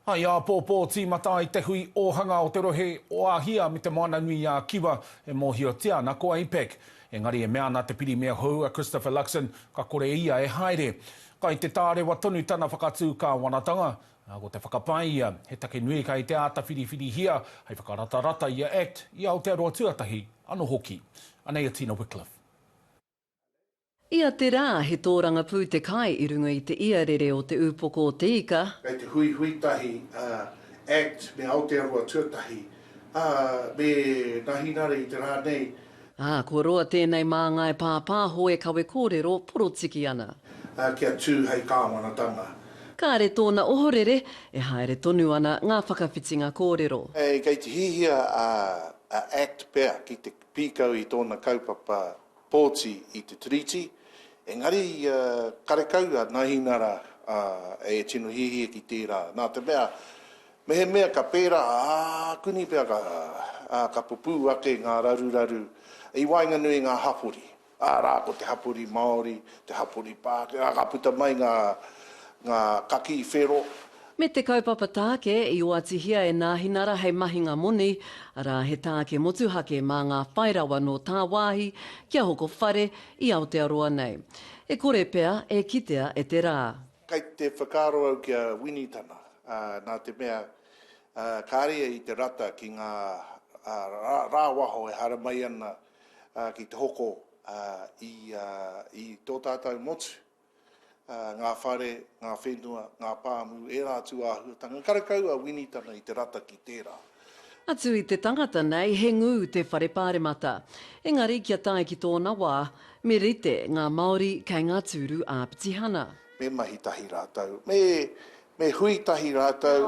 Hai āpōpō tīmata ai te hui ōhanga o te rohe o Āhia me Te Moana-nui-ā-Kiwa e mōhiotia ana ko APEC. Engari e mea ana te Pirimia hou a Christopher Luxon ka kore ia e haere. Kai te tārewa tonu tana whakatū kāwanatanga, ā, ko te whakapae ia, he take nui kai te āta whiriwhirihia hai whakaratarata i a act i Aotearoa Tuatahi anō hoki. Anei a Tina Wickliffe. Ia te rā, he tōrangapū te kai i runga i te iarere o te Ūpoko o te Ika. Kei te huihui tahi a act me Aotearoa Tuatahi, ā, me ngā hinare i te rā nei. Ā, kua roa tēnei māngai pāpāho e kawe kōrero porotiki ana. Ā, kia tū hei kāwanatanga. Kāre tōna ohorere, e haere tonu ana ngā whakawhitinga kōrero. Kei te hiahia a act pea ki te pīkau i tōna kaupapa Pōti i te Tiriti, engari ia karekau a Nahinara e tino hiahia ki tērā, nā te mea, mehemea ka pērā, ā, kuni pea ka, ā, ka pupū ake ngā raruraru i waenganui i ngā hapori, arā, ko te hapori Māori, te hapori Pākehā, ka puta mai ngā, ngā kakī whero, Me te kaupapa tāke i oatihia e Nāhinara hei mahinga moni, arā, he tāke motuhake mā ngā whai rawa nō tāwāhi kia hoko whare i Aotearoa nei. E kore pea e kitea e te rā. Kei te whakaaro au ki a Wini Tana, nā te mea, kāre ia i te rata ki ngā rāwaho e haramai ana ki te hoko i tō tātou motu. ngā whare, ngā whenua, ngā pāmu, ērā atu āhuatanga. Karekau a Wini tana i te rata ki tērā. Atu i te tangata nei he ngū te whare pāremata. Engari kia tae ki tōna wā, me rite ngā Māori kei ngā tūru ā-pitihana. Me mahi tahi rātou, me hui tahi rātou,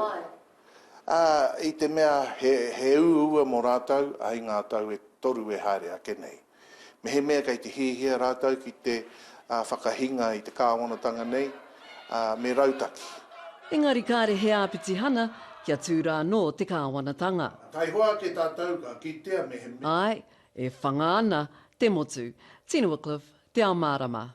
ā, i te mea he uaua mō rātou, ai ngā tau e toru e haere ake nei. Mehemea kei te hiahia rātou ki te whakahinga i te kāwanatanga nei, me rautaki. Engari kāre he āpitihana kia tū rānō te kāwanatanga. Taihoa ake tātou ka kitea mehemea. Āe, e whanga ana te motu. Tino Wycliffe, Te Ao Mārama.